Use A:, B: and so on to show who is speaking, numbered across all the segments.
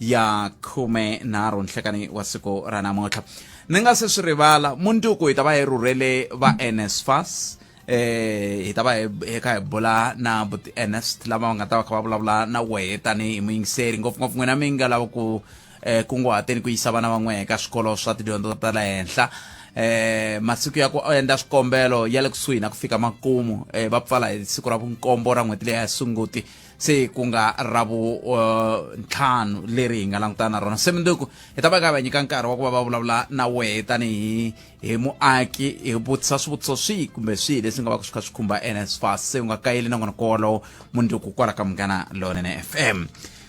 A: ya khume nharhu nhlekani wa siku ra namuntlha ni nga se swi rivala mundzuku hi ta va hi rhurhele va nsfas eh hi ta va hi kha hi bula na but ernest lama va nga ta va kha va vulavula na wehe tanihi muyingiseri ngopfungopfu n'wina mi nga lava ku eh kunguhateni ku yisa vana van'we ka swikolo swa tidyondzo ta le henhla eh masiku ya ku endla swikombelo ya le kusuhi na ku fika makumu eh va pfala hi siku ra vunkombo ra n'hweti leyi ya sunguti se ku nga ra vuntlhanu uh, leri hi nga langutana na rona se minduku hi ta va ka va nyika nkarhi wa ku va va vulavula na wehe tanihi hi muaki hi vutisa swivutiso swihi kumbe swihi leswi nga va swi kha swi khumba nsfas se u nga kayeli na n'wana kowolowo munduku kwala ka munghana lonene f m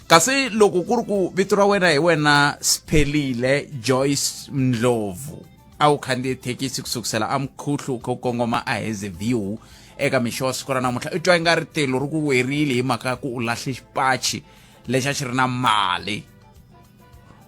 A: kasi loko ku ri ku vito ra wena hi wena siphelile joyce ndlovu a wu khandziye thekisi ku sukusela a mukhuhlu u kha u kongoma a heze view eka mixo wa siku ra namuntlha i twa i nga ri tilo ri ku werile hi mhaka ya ku u lahle xipachi lexi a xi ri na mali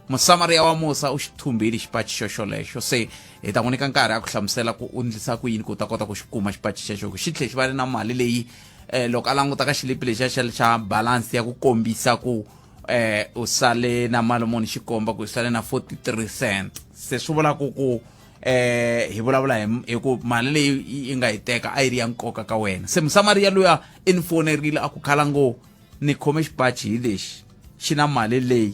A: musamariya wa musa u xi thumbile xipachi xoxolexo se hi ta n'wi nyika nkarhi a ku hlamusela ku u ndlisa ku yini ku u ta kota ku xi kuma xipachi xexo xi tlhe xi va ni na mali leyi um loko a languta ka xilipi lexiya xa xa balance ya ku kombisa ku eh u sale na mali muni xikomba ku sale na 43 cent se swi vula ku ku eh hi vulavula hi ku mali leyi yi nga yi teka a yi ri ya nkoka ka wena se musamariya luya i ni fonerile a ku khala ngo ni khome xipachi hi lexi xi na mali leyi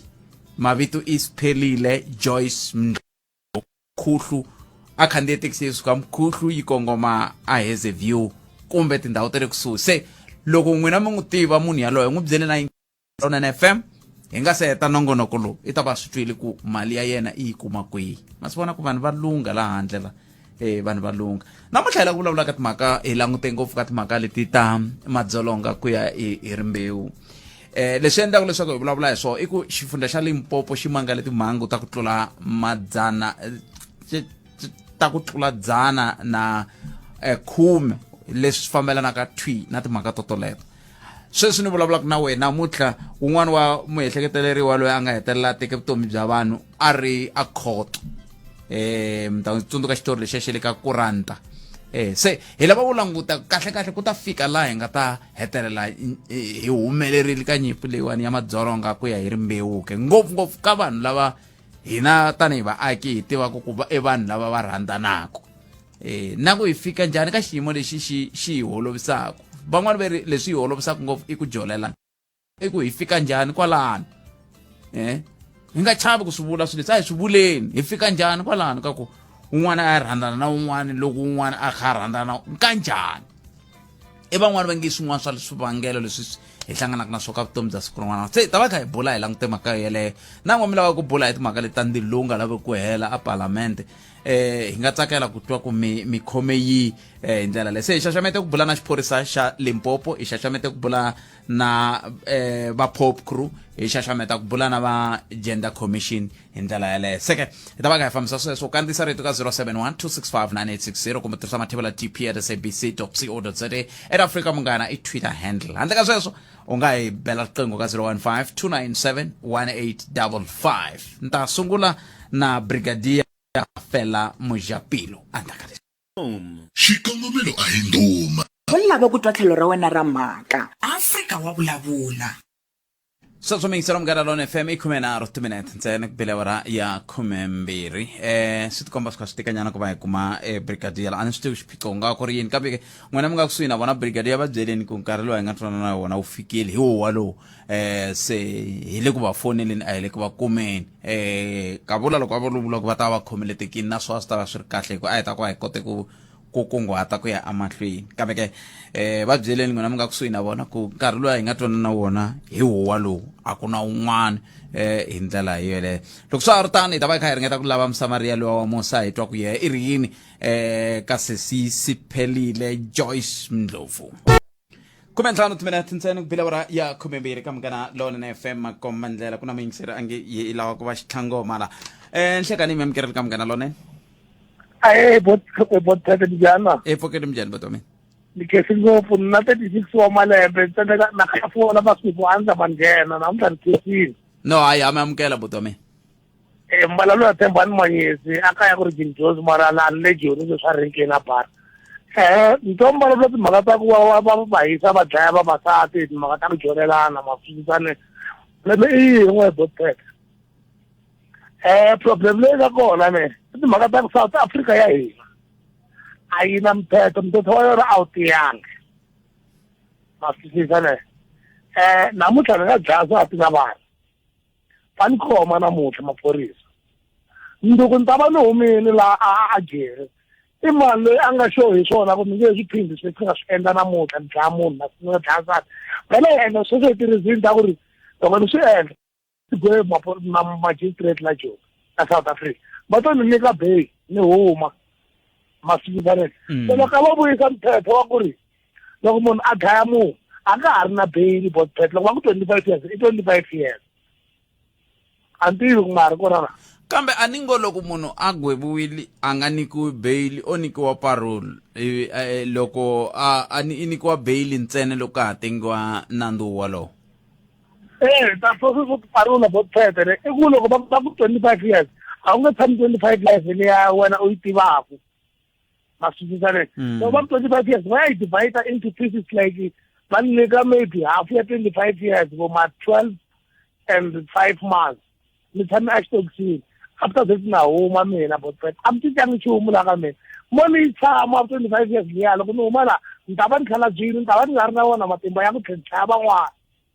A: mavito i siphelile joyce mkhuhlu a khandziye thekisi yi suka mkhuhlu yi kongoma a heze view kumbe tindhawu ta le kusuhi se loko n'wina mi n'wi tiva munhu yaloye n'wi byele na Tonene FM hi nga se heta nongonoko lowu i ta va swi twile ku mali ya yena i yi kuma kwihi ma swi vona ku vanhu va lungha laha handle la e vanhu va lungha namuntlha hi la ku vulavula ka timhaka hi langute ngopfu ka timhaka leti ta madzolonga ku ya hi hi rimbewu eh leswi endlaka leswaku hi vulavula hi swona i ku xifundza xa limpopo xi mangale timhangu ta ku tlula madzana eh, ti- ti- ta ku tlula dzana na eh, khume leswi fambelanaka thwi na timhaka to toleto sweswi ni vulavulaka na wena namuntlha un'wana wa muehleketeleriwa loyi a nga hetelela a teke vutomi bya vanhu a ri a khoto um mi ta tsundzuka xitori lexiya xi le ka kuranta um se hi lava ku languta kahlekahle ku ta fika laha hi nga ta hetelela hi humelerile ka nyimpi leyiwani ya madzolonga ku ya hi rimbewuke ngopfungopfu ka vanhu lava hina tanihi vaaki hi tivaka ku va i vanhu lava va rhandzanaka e, na ku hi fika njhani ka xiyimo lexi xi xi hi holovisaka van'wani va ri leswi hi holovisaka ngopfu i ku jolela i ku hi fika njhani kwalano eh hi nga chavi ku swi vula swilo leswi a hi swi vuleni hi fika njhani kwalano ka ku un'wana a ya rhandzana na un'wana loko un'wana a kha a rhandzana ka njhani i van'wani va nge swin'wana swa swivangelo leswi hi hlanganaka na swo ka vutomi bya siku rin'wana se ta va kha hi bula hi langute mhaka yeleyo na n'wamila wa ku bula hi timhaka leti ta ndzilo lowu nga lavi ku hela a palamende eh hi nga tsakela ku twa ku mi mi khome yi eh, hi ndlela leyi se hi xaxamete ku bula na xiphorisa xa limpopo hi xaxamete ku bula na eh, va pop crew hi xaxameta ku bula na va gender commission hi ndlela yaleyo seke hi ta va ka hi fambisa sweswo u kandziyisa rito ka 071 265 kumbe tirhisa mathevela tp at sabc co za ed africa munghana i twitter handle handle ka sweswo u nga hi bela riqingho ka 015 297 1855 ni ta sungula na brigadier fela mujapilo endzhaku ka leswi xikongomelo a hi ndhuma u lava ku twa tlhelo ra wena ra mhaka afrika wa vulavula sweswo miyingiselo munghana lona fm i khume nharhu timinete ntsena ku bile awara ya khumembirhi um swi tikomba swi kha swi tikanyana ku va hi kuma um brigadier a ni swi tivi xiphiqo ku nga ku ri yini kambe n'wina mi nga kusuhi na vona brigade ya va byeleni ku nkarhi lowu hi nga twanana na wona wu fikile hi wo walowo um se hi le ku va foneleni a hi le ku va kumeni um ka vula loko va vulavula ku va ta va va khomeletekile na swo a swi ta va swi ri kahle hi ku a hi ta ku a hi kote ku ku kunguhata ku ya emahlweni kambe ke um va byeleni n'wina mi nga kusuhi na vona ku nkarhi lowu a hi nga twanana na wona hi wo walowo a ku na un'wana eh hi ndlela yeleyo loko swa ha ri tano hi ta va hi kha hi ringeta ku lava musamariya lowa wa musa hi twa ku yehe i ri yini eh kasesi siphelile Joyce Mndlovu khume ntlhanu timinete ntsena ku bile awara ya khumembirhi ka munghana lonene fm makomba ndlela ku na muyingiseri a nge yi yi lava ku va xitlhango mala um nhlekani mi amukerele ka munghana lonene ae bothata dijana epfokeni minjhani vato wa mina ni khesi ngopfu ni na thirty six wa malembe ni tsandzeka na khafuola masiku a ndza ma nghena namuntlha ni khesile no hayi ha mi amukela buti wa mina e eh, mbala loyi a tshemba ni manyesi a ka ya ku ri jinjozi mara la ni le joni sweswi a renkeni a bara um eh, ntombala lula timhaka ta ku va va va hisa va dlaya vavasati hi timhaka ta ku dyonelana mafisisane leme i yini n'we boteka um eh, problem leyi nga kona ne i timhaka ta ku south africa ya hina a yi na mthetho mthetho wa yona a wu tiyangi mafisisane um namuntlha ni nga dlaya swa ti na vanhu va ni khoma namuntlha maphorisa nduku ni ta va ni humini laha a a jeri i mani loyi a nga xo hi swona ku mi nge swi phindi swi nga swi endla namuntlha ni dlaya munhu na ni nga dlaya nsati vhele hi endla sweswo hi tirhizini ta ku ri loko ni swi endla igwe magistrate la joni a south africa va to ni nyika bay ni huma masiku vanene mm. se loko a va vuyisa mphepho wa ku ri loko munhu a dlaya munhu a nga ha ri na beyili botbet loko va ku twenty five years i twenty five years a ni tivi ku ma ha ri kona na kambe a ni ngo loko munhu a gweviwile a nga nyikiwi beyili o nyikiwa parole ivi eh, loko a a ni- i nyikiwa beyili ntsena loko ka ha tengiwa nandzu wolowo ee ta sweswo swo parula botbet le i ku loko va va ku twenty five years a wu nge tshami twenty five years leya wena u yi tivaku maswisisane mm. so ba 25 years ba e divide into pieces like ba nne ka maybe half ya 25 years bo ma 12 and 5 months ni tshame a xitokisini after this na huma mina botfet a mi titangi nchumu la ka mina mo ni tshama wa 25 years liya loko ni huma la ni ta va ni khala byini ni ta va ni nga ri na wona matimba ya ku tlhentlhaya van'wana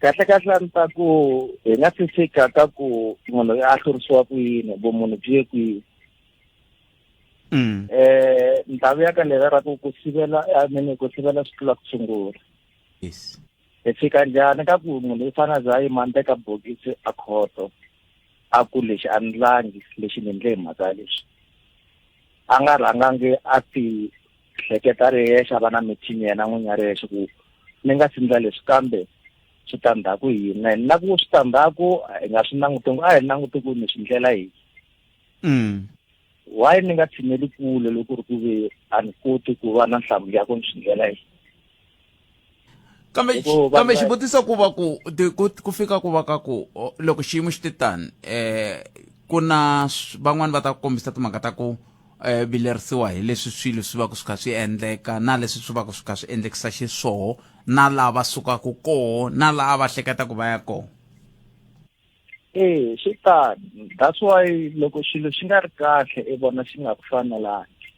A: kahle kahle a ni ta ku hi nga si fika ka ku munhu a hlurisiwa ku yini vumunhu byi ye kwihi um ndhawu ya ka leri ra ku ku sivela a mini ku sivela swi tlula ku sungula yes hi fika njhani ka ku munhu i fana za yima ni teka bokisi a khoto a ku lexi a ni langi lexi ni ndle hi mhaka leswi a nga rhangangi a ti hleketa ri yexe a va na mithini yena n'winyi a ri yexe ku ni nga si ndla leswi kambe switandzhaku hi yini na yini na ku switandzhaku hi nga swi languti ngo a hi languti ku ni swi ndlela hi mm. why ni nga tshineli kule loko ri ku ve a ni koti ku va na nhlamulo ya ku ni swi ndlela hi kambe kambe xivutiso ku va ku ku fika ku va ka ku loko xiyimo xi te tani um ku na van'wani va ta kombisa timhaka ta ku um vilerisiwa hi leswi swilo swi va ku swi kha swi endleka na leswi swi va ku swi kha swi endlekisa xiswoho na laha va sukaka koho na laha va hleketa ku va ya koho ee swi tani that's why loko xilo xi nga ri kahle i vona xi nga ku fanelangi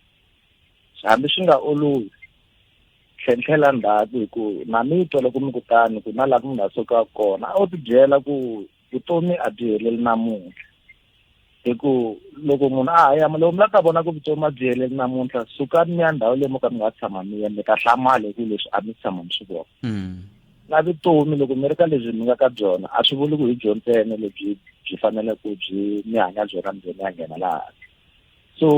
A: hambi swi nga olovi tlhentlhela ndzhaku hi ku na mi twa loko mi kutani ku na laha ku mi nga suka kona a wu ti byela ku vutomi a byi heleli namuntlha hi ku loko munhu a ha yama loko mi la ta vona ku vutomi a byi heleli namuntlha sukani mi ya ndhawu leyi mo ka mi nga tshama mi ya mi ta hlamala hi ku leswi a mi tshama mi swi vona mm. na vutomi loko mi ri ka lebyi mi nga ka byona a swi vuli ku hi byo ntsena lebyi byi fanele ku byi mi hanya byona mi byi mi ya nghena laha so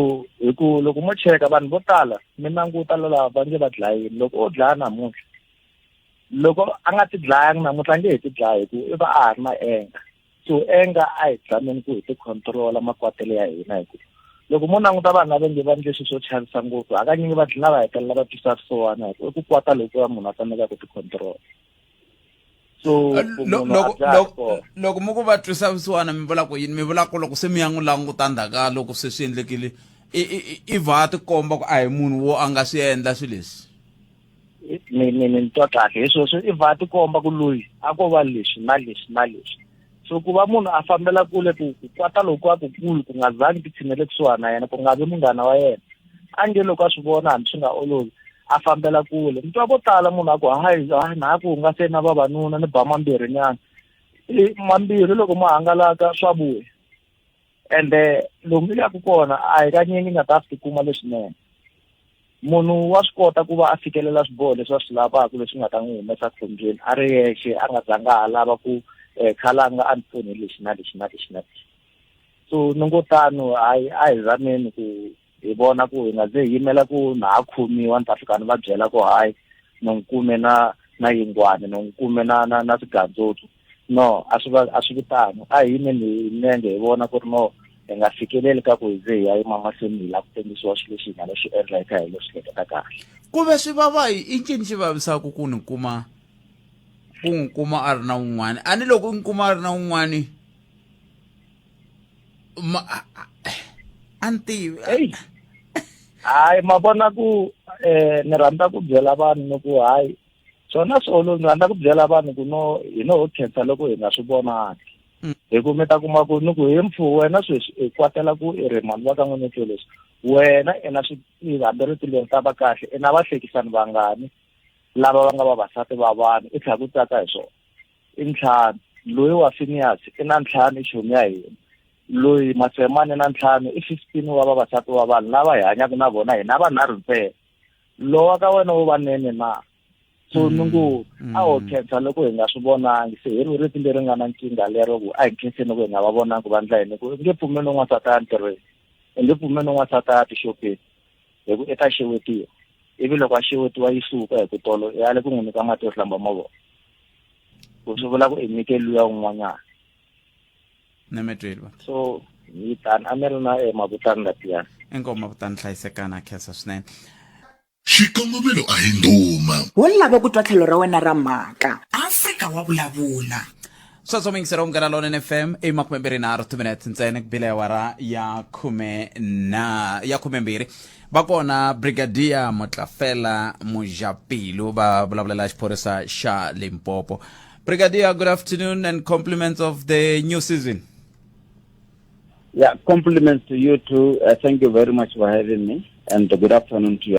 A: hi ku loko mo cheka vanhu vo tala mi languta lava va nge va dlayini loko o dlaya namuntlha loko a nga ti dlayanga namuntlha a nge hi ti dlaya hi ku i va a ha ri na enga so enga a hi zameni ku hi ti controla makwatelo ya hina hi ku loko mo languta vanhu lava nge va ndle swilo swo chavisa ngopfu hakanyingi va dlina va hetelela va twisa swisiwana hi ku i ku kwata lokuya munhu a tsandzeka ku ti controla so Eh, ku lo- munhu a loko dzaha loko- kona. loko mi ku va twisa vusiwana mi vula ku yini mi vula ku loko se mi ya n'wi languta ndzhaka loko se swi endlekile i- i- i- i va a tikomba ku a hi munhu wo a nga swi endla swilo leswi ni ni ni ni twa kahle hi sweswo i va tikomba ku loyi a ko va leswi na leswi na leswi so ku va munhu a fambela kule ku ku kwata loko a ku kulu ku nga zangi ti tshinele kusuhani na yena ku nga vi munghana wa yena a nge loko a swi vona hambi swi nga olovi a fambela kule mi twa vo tala munhu a ku hayi hayi na ku hungase na vavanuna ni ba mambirhinyana mambirhi loko ma hangalaka swa vuya ende lomu ni yaka kona a hi kanye ni nga ta swi tikuma leswinene munhu wa swi kota ku va a fikelela swiboho leswi a swi lavaka leswi nga ta n'wi humesa khombyeni a ri yexe a nga zanga a lava ku um eh, khalanga a ni pfuni lexi na lexi na lexi na lexi so ni ngo tano hayi a hi zameni ku hi vona ku hi nga ze hi yimela ku na ha khomiwa ni ta fika ni va byela ku hayi no n'wi kume na na yingwani no n'wi kume na na na swigandzotsu no a swi va a swi vitano a hi yimeni hi milenge hi vona ku ri no hi nga fikeleli ka ku hi ze hi ya yima mahlweni hi lava ku tengisiwa swilo leswi hi nga lo swi endla hi kha hi lo swi hleketa kahle ku ve swi vava hi i ncini xi vavisaka ku ni kuma ku n'wi kuma a ri na un'wana a ni loko ni kuma a ri na un'wana Ma, anti hey. hayi ma vona ku eh ni rhandza ku byela vanhu ni ku hayi swona swolo ni rhandza ku byela vanhu ku no hi no khensa loko hi nga swi vonaki mm. hi ku mi ta kuma ku ni ku hi mpfu wena sweswi i kwatela ku i ri mhani va ka n'wini tlo leswi wena i na hambi ri tilweni ta va kahle i na vahlekisani vangani lava va nga vavasati va vanhu i tlhela ku tsaka hi swona i ntlhanu loyi wa finiyasi i na ntlhanu ixomi ya hina loyi matsemani na ntlhanu i fifteen wa vavasati wa vanhu lava hi hanyaka na vona hina vanharhu ntsena lowa ka wena wo va nene na so mm, ni ngo mm. a ho khensa loko hi nga swi vonangi se hi ri riti leri nga na nkingha lero ku a hi khenseni loko hi nga va vonangi vandla yini ku nge pfumeli un'wansati a ya ntirhweni hi nge pfumeli un'wansati a ya tixopeni hi ku i ta xewetiwa ivi loko a xewetiwa yi suka hi ku tolo i ale ku n'wi nyika mati yo hlamba mavoko ku swi vula ku i nyike luya un'wanyana na mi tweli va so yi tani a mi ri na emakutani latiyani inkomu makutani hlayisekana khensa swinene xikongomelo a hi ndhuma wo lava ku twa tlhelo ra wena ra mhaka afrika wa vulavula sweswo mi yingisela unghana lonene fm i makume mbirhi nharhu timinete ntsena ku bile awara ya khume na ya khume mbirhi va kona brigadier motlafela mujapilu va vulavulela xiphorisa xa limpopo brigadier good afternoon and compliments of the new season Yeah, compliments to you too. Uh, thank you very much for having me, and good afternoon to you.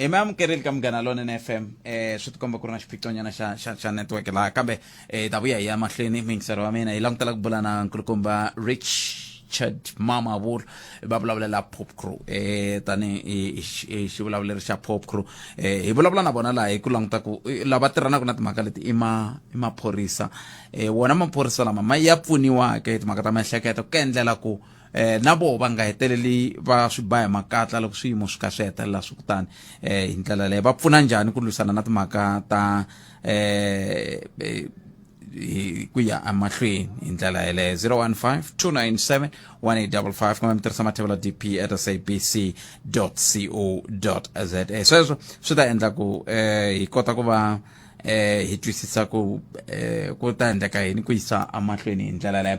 A: hi mi amukerile ka munghana lonene fm eh swi tikomba ku ri na xiphiqonyana xa xa xa network laha kambe eh ta vuya hi ya mahlweni mingisero wa mina hi langutela ku bula na nkulukumba richard mama vulu va vulavulela pop crew eh tani hi- hi- hi xivulavuleri xa pop crew eh hi vulavula na vona laha hi ku languta ku eh, lava tirhanaka na timhaka leti i ma i maphorisa eh wona maphorisa lama ma ya pfuniwaka hi timhaka ta miehleketo ku endlela ku eh na vo va nga heteleli va swi ba hi makatla loko swiyimo swi kha swi hetelela swi kutani eh hi ndlela leyo va pfuna njhani ku lwisana na timhaka ta eh, eh hi ku ya emahlweni hi ndlela yeleyo 015 297 1855 kumbe mi tirhisa mathevelo dp at sabc co za sweswo swi ta endla ku um hi kota ku va eh hi twisisa ku eh ku ta endleka yini ku yisa amahlweni hi ndlela leyo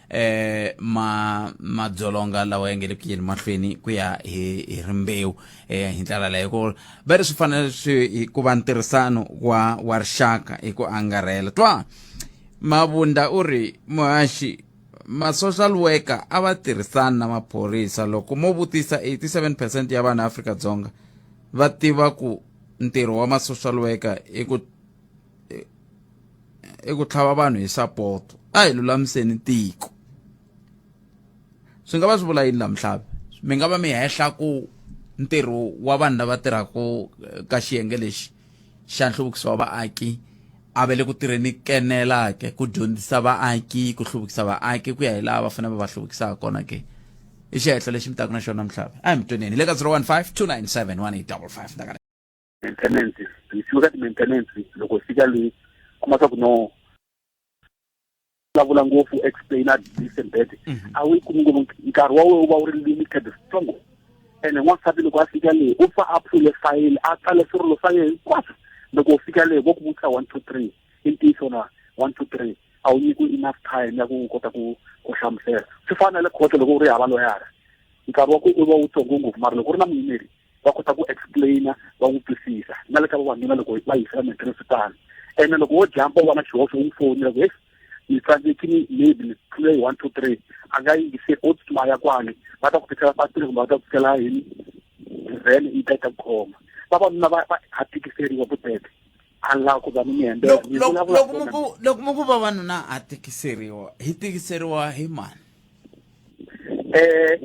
A: eh ma madzolonga lawa ya nge le ku yeni mahlweni ku ya hi hi rimbewu eh hi ndlela leyo ku va ri swi fanele swi hi ku va ntirhisano wa wa rixaka hi ku angarhela twa mavunda u ri muhaxi ma-social worker a va tirhisani na maphorisa loko mo vutisa 87 percent ya vanhu afrika-dzonga va tiva ku ntirho wa ma-social worker i ku i ku tlhava vanhu hi sapoto a hi lulamiseni tiko swi nga va swi vula yini lamuhlavi mi nga va mi hehla ku ntirho wa vanhu lava tirhaka eh, ka xiyenge lexi xa nhluvukiso wa vaaki a va le ku tirheni kenela ke ku dyondzisa vaaki ku hluvukisa vaaki ku ya hi laha va fanele va va hluvukisaka kona ke i xihehlo lexi mi taka na xona mhlava a hi mi tweneni hi le ka 015 297 1855 maintenance hi fika ka ti-maintenance loko hi fika le kuma swa ku no vulavula ngopfu explain a this and that mhm. a wu yi kumi ngopfu nkarhi wa wena wu va wu ri limited strong ene n'wansati loko a fika le u fa a pfule fayili a tsale swirilo swa yena hinkwaswo loko u fika le vo ku vutisa one two three i ntiyiso na one two three a wu nyikiwi enough time ya ku kota ku ku hlamusela swi fana na le khoto loko u ri hava loyara nkarhi wa ku u va wu tsongo ngopfu mara loko u ri na muyimeri va kota ku explain va n'wi twisisa na le ka vavanuna loko va yisela matirhisi tano ene loko wo jampa u va na xihoxo u n'wi fonela ku heyi ni tsandzeki ni maybe ni tlule hi one two three a nga yingise o tsutsuma ya kwale va ta ku tisela patile kumbe va ta ku tisela hi vhene yi ta yi ta ku khoma vavanuna va va ha tikiseriwa vutete a nga ku va ni mihembe Loko- ni loko- vulavula loko ntsena. muku- loko muku vavanuna a tikiseriwa hi tikiseriwa hi mani eh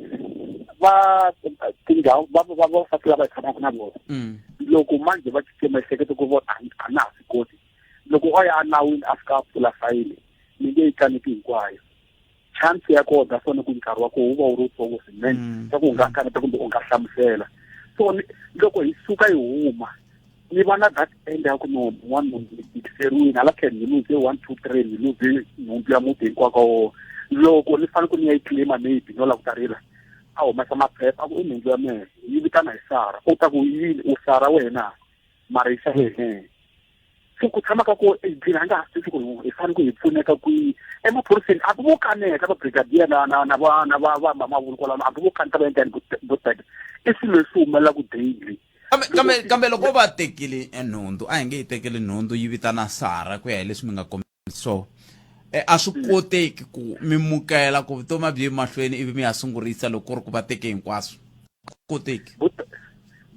A: va tindhawu va va va fasi lava hi tshamaka na vona Mm. loko manje va titse miehleketo ku vona a- a na ha swi koti loko o ya anawini a fika a pfula fayili ni nge yi tlaniki hinkwayo chance ya kona ta fona ku nkarhi wa koho wu va wu ri wutsongo swinene mm. swa ku u nga mm. kaneta kumbe u nga hlamusela so loko hi suka hi huma ni va na that end ya ku no n'wana nhundzu ni tikiseriwini hala tlhela ni luze one two three ni luze nhundzu ya muti hinkwaka wona loko ni fanele ku ni ya yi claima maybe no la ku tarila a humesa maphepha ku i nhundzu ya mehe yi vitana hi sara u ta ku yini u sara wena mara yi xa wena se ku tshama ka ko edini a nga ha sisi ku hi fanele ku hi pfuneka kwihi emaphoriseni a ku vo kaneta va brigadier na na na va na va va mamavulu kwalano a ku vo kaneta va endla ni vo teka i swilo leswi humelelaku daily kambe kambe loko va tekile nhundzu a hi nge yi tekeli nhundzu yi vitana sara ku ya hi leswi mi nga so e, a swi mm. koteki ku mi mukela ku vutomi a byi ye mahlweni ivi mi ya sungurisa loko ku ri ku va teke hinkwaswo koteki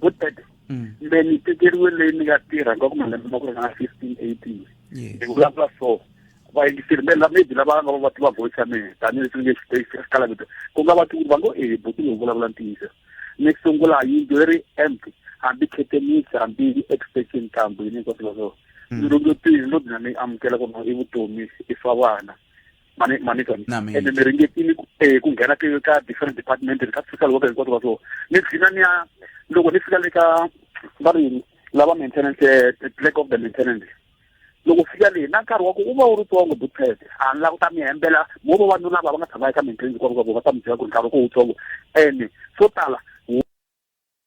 A: butete mm. me ni tekeriwe leyi ni nga tirha nga ku malembe ma ku ri nga fifteen eighteen ni vulavula so vayingiseri me maybe lava nga va va tiva voice ya mina tanihileswi ni nge xikala vito ku nga va ti va ngo e buti ni vulavula ntiyiso ni sungula yindlu yi ri empty hambi khetenisi hambi extension kambu yini hinkwaswo leswo mm. lo tini lo dina ni amukela ku i vutomi i swa vana mani mani ka ene mi ringetini ku eh, nghena ka different department ka social worker hinkwato va so ni dlina ni ya loko ni fika le ka va ri lava maintenance eh, clerk of the maintenance loko fika leyi na nkarhi wa ku u va wu ri tsongo butsete a ni la ku ta mi hembela mo va vanhu lava va nga tshama eka maintenance kwavo va ta mi byela ku ri nkarhi wa ku wu tsongo ene swo tala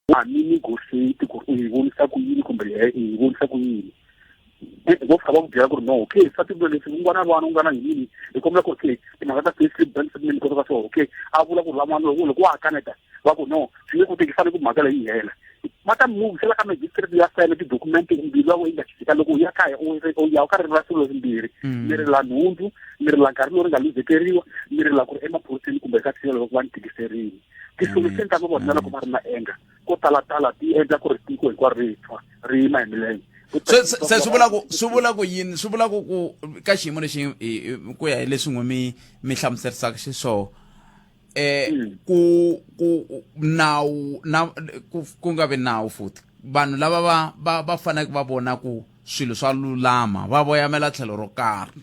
A: wa ha mi negotiate ku ri u yi vonisa ku yini kumbe he i yi vonisa ku yini vo fika va ku byela ku ri no okay swa tivula leswi u nga na vana u nga na yini hi kombela ku okay timhaka ta payslip bank statement kota ka swona okay a vula ku ri van'wana loko loko wa ha kaneta va ku no swi nge koteki fanele ku mhaka leyi yi hela va ta muvisela ka magistrate ya sayina tidokumente mbirhi wa yi nga xisika loko u ya kaya u ya u ka ririmi ra swilo leswimbirhi mm. mi ri la nhundzu mi ri la nkarhi lowu ri nga luzekeriwa mi ri la ku ri emaphoriseni kumbe ka thina loko va ni tikiseriwa ti-solution ta vona loko va ri na anger ko talatala ti endla ku ri tiko hinkwaro ri tshwa ri yima hi milenge se swi vula ku swi vula ku yini swi vula ku ku ka xiyimo lexi ku ya hi leswi n'wi mi mi hlamuserisaka xiswona eh hmm. ku ku nawu na ku nga vi nawu futhi vanhu lava va va va faneleke va vona ku swilo swa lulama va voyamela tlhelo ro karhi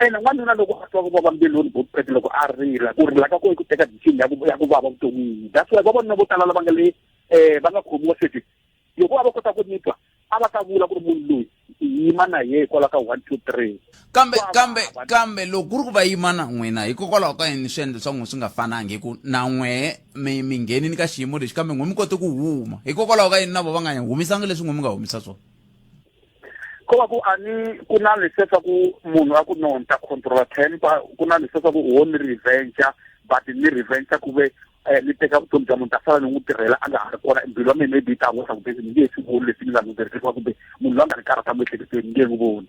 A: ene n'wanuna loko a twa ku vava mbilwini botipete loko a rila ku rila ka ko i ku teka decision ya ku ya ku vava vuton'wini that's why vavanuna vo tala lava nga le um va nga khomiwa sweswi loko a va kota ku nitwa a va ta vula ku ri munhu loyi yima na yehe hikwalaho ka one two three kambe kambe kambe loko ku ri ku va yima na n'wina hikokwalaho ka yini swi endla swa n'wi swi nga fanangi hi ku na n'wehe mi mi nghenini ka xiyimo lexi kambe n'wi mi kote ku huma hikokwalaho ka yini na vo va nga humisangi leswi n'wi mi nga humisa swona ko va ku a ni ku na leswiya swa ku munhu a ku no ni ta controla temper ku na leswiya swa ku wo ni reventure but ni reventure ku ve um ni teka vutomi bya munhu ta sala ni n'wi tirhela a nga ha ri kona mbilu ya mina maybe yi ta n'wi swa ku be ni nge swi voni leswi ni languteriseriwa kumbe munhu loyi a nga ni karhata miehleketelweni ni nge n'wi voni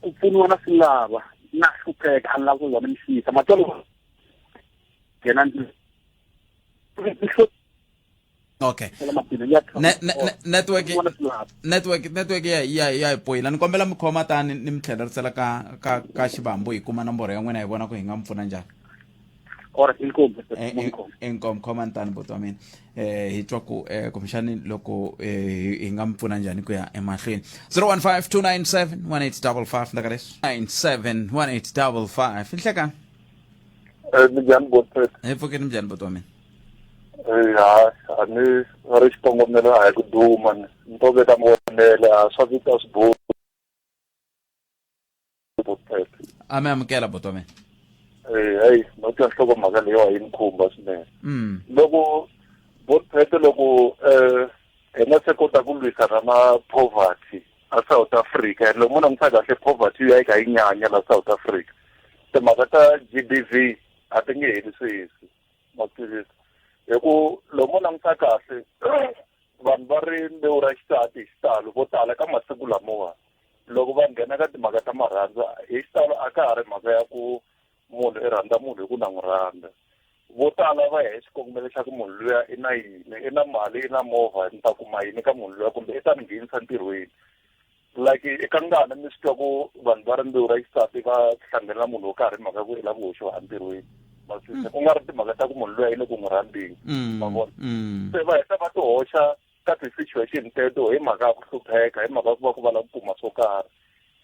A: ku pfuniwa na swi lava na hlupheka a ni lava ku za ni mi xiyisa matsolo yena okay network network network ya ya ya hi poyila ni kombela mi khoma tani ni mi tlhelerisela ka ka ka xivambo hi kuma nomboro ya n'wina hi vona ku hi nga mi pfuna njhani or inkomu inkomu khoma ntani buti wa mina eh hi twa ku eh kumbexani loko eh hi nga mi pfuna njhani ku ya emahlweni 0152971855 ndakaleso 971855 inhleka eh njhani buti hi pfukeni njhani buti wa mina eh ha a ni ri xikongomelo a hi ku duma ni to veka mavonelo a swa vita swibohi a mi amukela buti wa mina eh hayi no twa nhlokomhaka leyo a yi ni khumba swinene mm. loko botphete loko um hi nga se kota ku lwisana na poverty a south africa and loko mo langutisa kahle poverty yi ya yi kha yi nyanya la south africa timhaka ta g b v a ti nge heli sweswi maphilisi hi ku loko mo langutisa kahle vanhu va ri mbewu ra xisati hi xitalo vo tala ka masiku lamawani loko va nghena ka timhaka ta marhandzu hi xitalo a ka ha ri mhaka ya ku munhu i rhandza munhu hi ku na n'wi rhandza vo tala va ya hi xikongomelo xa ku munhu luya i na yini i na mali i na movha ni ta kuma yini ka munhu luya kumbe i ta ni nghenisa ntirhweni like eka ngana mi swi twa ku vanhu va rimbewu ra xisati va hlangana na munhu wo karhi mhaka ya ku i lava ku hoxiwa entirhweni masise ku nga ri timhaka ta ku munhu luya i le ku n'wi rhandzeni mm, ma vona mm. se va heta va ti hoxa ka ti-situation teto hi mhaka ya ku hlupheka hi mhaka ya ku va ku va lava ku kuma swo karhi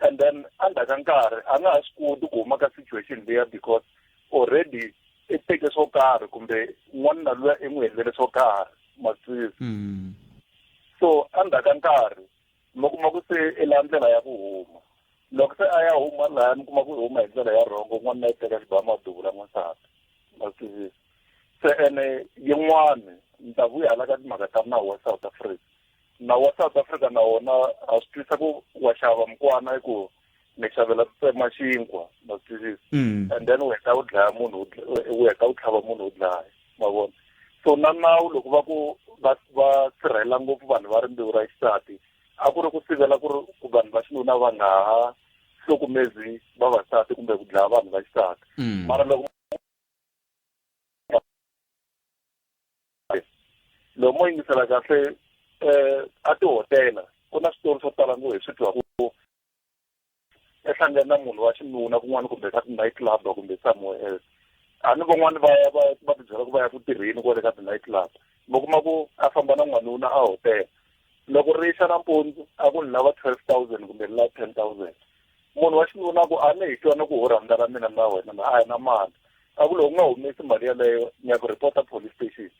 A: and then under ka nkarhi a nga ha swi koti ku huma ka situation leya because already i teke swo karhi kumbe n'wanuna luya i n'wi helele swo karhi masisi mm. so under ka nkarhi mi kuma ku se i la ndlela ya ku huma loko se a ya huma laha mi kuma ku i huma hi ndlela ya rhongo n'wanuna yi teka xibaha maduvula n'wansati ma swi tivisa se ene yin'wani ni ta vuya hala ka timhaka ta nawu wa south africa nawu wa south africa na wona a swi twisa ku wa xava mukwana hi ku ni xavela ku tsema xinkwa ma swi twisisa Mm. and then u heta u dlaya munhu u dl- u heta u tlhava munhu u dlaya ma vona so na nawu loko va ku va va sirhelela ngopfu vanhu va rimbewu ra xisati a ku ri ku sivela ku ri ku vanhu va xinuna va nga ha hlukumezi vavasati kumbe ku dlaya vanhu va xisati Mm. mara loko loko mo yingisela kahle um a tihotela ku na switori swo tala ngo hi swi twa ku ehlangene na munhu wa xinuna kun'wana kumbe ka ti-night club kumbe somewhere else a ni van'wani va va va tibyela ku va ya ku tirheni kwale ka ti-night club mi kuma ku a famba na n'wanuna a hotela loko ri xa nampundzu a ku ni lava twelve thousand kumbe ni lava ten thousand munhu wa xinuna ku a ni hi twana ku ho rhandza ra mina na wena na a hi na mali a ku loko u nga humesi mali yaleyo ni ya ku reporta police station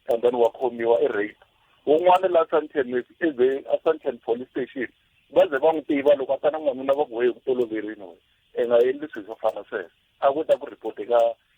A: and then wa khomiwa i rape wun'wana la santen eve a santen police station va ze va n'wi tiva loko a ta na n'wanuna va ku weye ku toloverini we i nga endli swilo swo fana sweswo a ku ta ku report ka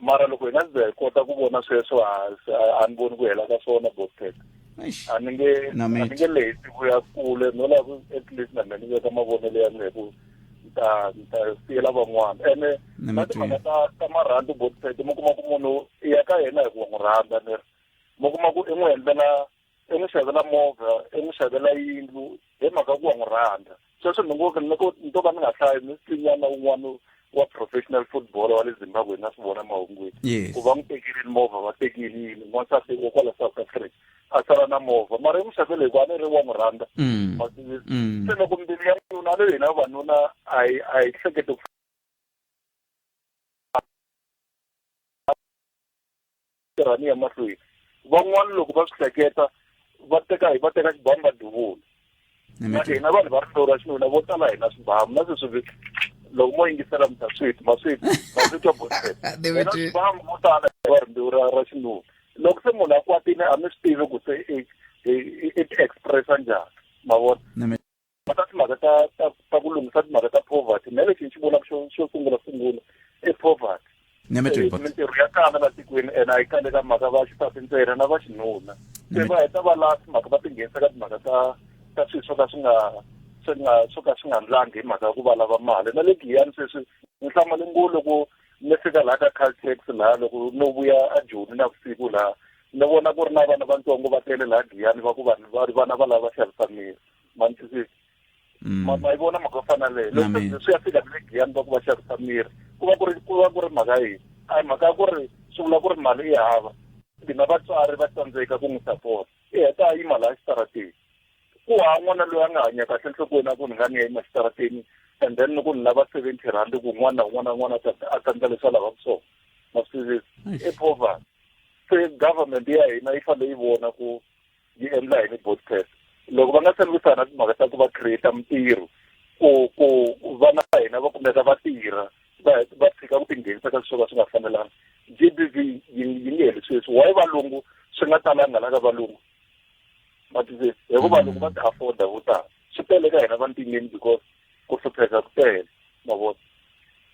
A: mara loko hina ndzi hi kota ku vona sweswo a ni voni ku hela ka swona botek a ni nge a ni nge leti ku ya kule no lava ku at least na mina ni veka mavonelo ya mina hi ku ni ta ni ta siyela van'wana ene na timhaka ta ta marhandzu botek mi kuma ku munhu i ya ka yena hi ku wa n'wi rhandza ni ri mi kuma ku i n'wi endlela i n'wi xavela movha i n'wi xavela yindlu hi mhaka ku wa n'wi rhandza sweswo ni ngo ni ko ni to ka ni nga hlayi ni swinyana un'wana wa professional football wa le zimbabwe na swi vona mahungwini ku va n'wi tekerile movha va tekile yini n'wansati wa kwala south africa a sala na movha mara i n'wi xavele hikuva a ni ri wa n'wi rhandza mm. mm. se loko mbilu ya nuna le hina vanuna a yi a yi hlekete ku Tirhani ya mahlweni. Van'wana loko va swi hleketa va teka va teka xibamu va duvula. Na hina vanhu va hlora xinuna vo tala hina swibamu na sweswi loko mo yingisela mi ta sweet ma sweet ma sweet wa bosela Dimitri ba mo tala wa rimbewu ra ra xinuna loko se munhu a kwatile a mi swi tivi ku se i i expressa njhani ma vona va ta timhaka ta ta ta ku lunghisa timhaka ta poverty na lexi ni xi vonaka xo xo sungula sungula i poverty eh, mintirho ya kala la tikweni ene a yi kale ka mhaka va xisati ntsena na va xinuna se va heta va laha timhaka va tinghenisa ka timhaka ta ta swilo swo ka swi nga swi nga swo ka swi nga ndlangi hi mhaka ya ku va lava mali na le giyani sweswi ni hlamale ngo loko ni fika laha ka caltex laha loko no vuya a joni na vusiku laha ni vona ku ri na vana vantsongo va tele laha giyani va ku vanhu va ri vana va lava va xavisa miri manitwisisi mm. ma yi vona mhaka yo fana leyo loko swi ya fika vile giyani va ku va xavisa miri ku va ku ri ku va ku ri mhaka yini a hi mhaka ya ku ri swi vula ku ri mali yi hava hina vatswari va tsandzeka ku n'wi sapota i heta a yima laha xitarateni ku ha n'wana loyi a nga hanya kahle nhlokweni a ku ni nga ni ya yima xitarateni and then loko ni lava seventy rand ku n'wana un'wana un'wana a tsandza leswi a lavaka swona masizisi i poverty se government ya hina yi fanele yi vona ku yi endla yini podcast loko va nga se lwisana timhaka ta ku va create mintirho ku ku vana va hina va kumeka va tirha va va tshika ku tinghenisa ka swo ka swi nga fanelanga g b v yi yi nge heli sweswi why valungu swi nga talanga la ka valungu ma twisisa hikuva loko va ti afforda vo tala swi tele ka hina vantimeni because ku hlupheka ku tele ma vona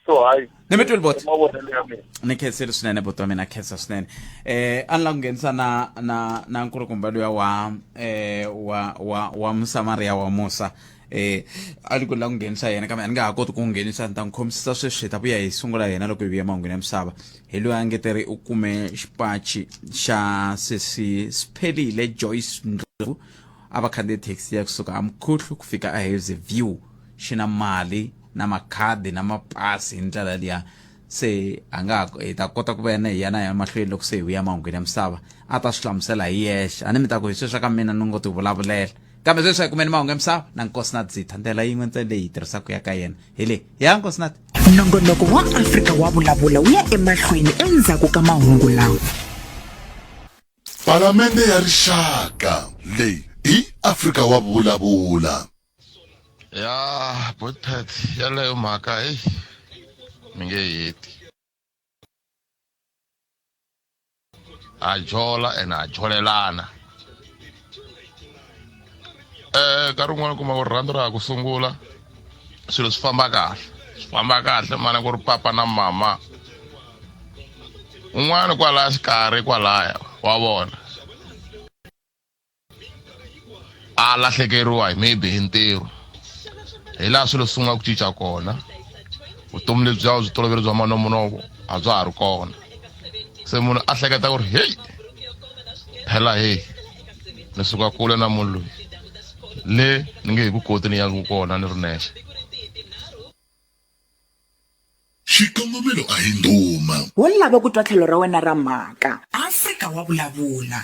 A: so hayi ni mi twile bot mavonelo ya mina ni khensile swinene bot wa mina khensa swinene eh a ni la ku nghenisa na na na nkulukumba luya wa eh wa wa wa musamariya wa musa eh a ni ku la ku nghenisa yena kambe a ni nga ha koti ku nghenisa ni ta n'wi khomisisa sweswi hi ta vuya hi sungula yena loko hi vuya mahungwini ya misava hi loyi a ngeteri u kume xipachi xa sesi siphelile joyce ndlovu a va khandziye thekisi ya kusuka amukhuhlu ku fika ahazy view xi na mali na makhadi na mapasi hi ndlela liya se a nga hi ta kota ku va yena hi yana ya mahlweni loko se hi vuya mahungwini ya misava a ta swi hlamusela hi yexe a ni mi ta ku hi sweswi ka mina ni ngo ti vulavulela kambe sweswi a hi kumeni mahungu ya misava na nkosi na dzitha ndlela yin'we ntsena leyi hi tirhisaka ya ka yena hi leyi ya nkosi na nongonoko wa afrika wa vulavula wu ya emahlweni endzhaku ka mahungu lawa Palamende ya Rixaka leyi i Afrika wa vulavula. Ya Bothad yaleyo mhaka hey mi nge heti. Ha jola and ha jolelana. eh nkarhi wun'wana kuma ku rirhandzu ra ha ku sungula swilo swi famba kahle swi famba kahle mana ku ri papa na mama un'wana kwalaya xikarhi kwalaya wa vona a lahlekeriwa hi maybe hi ntirho hi laha swilo swi sungula ku cinca kona vutomi lebyi bya byi toloveri bya manomunovo a bya ha ri kona se munhu a hleketa ku ri heyi phela heyi ni suka kule na munhu loyi le ni nge hi ku koti ni yaku kona ni ri nexe xikongomelo a hi ndhuma wo lava ku twa tlhelo ra wena ra mhaka afrika wa vulavula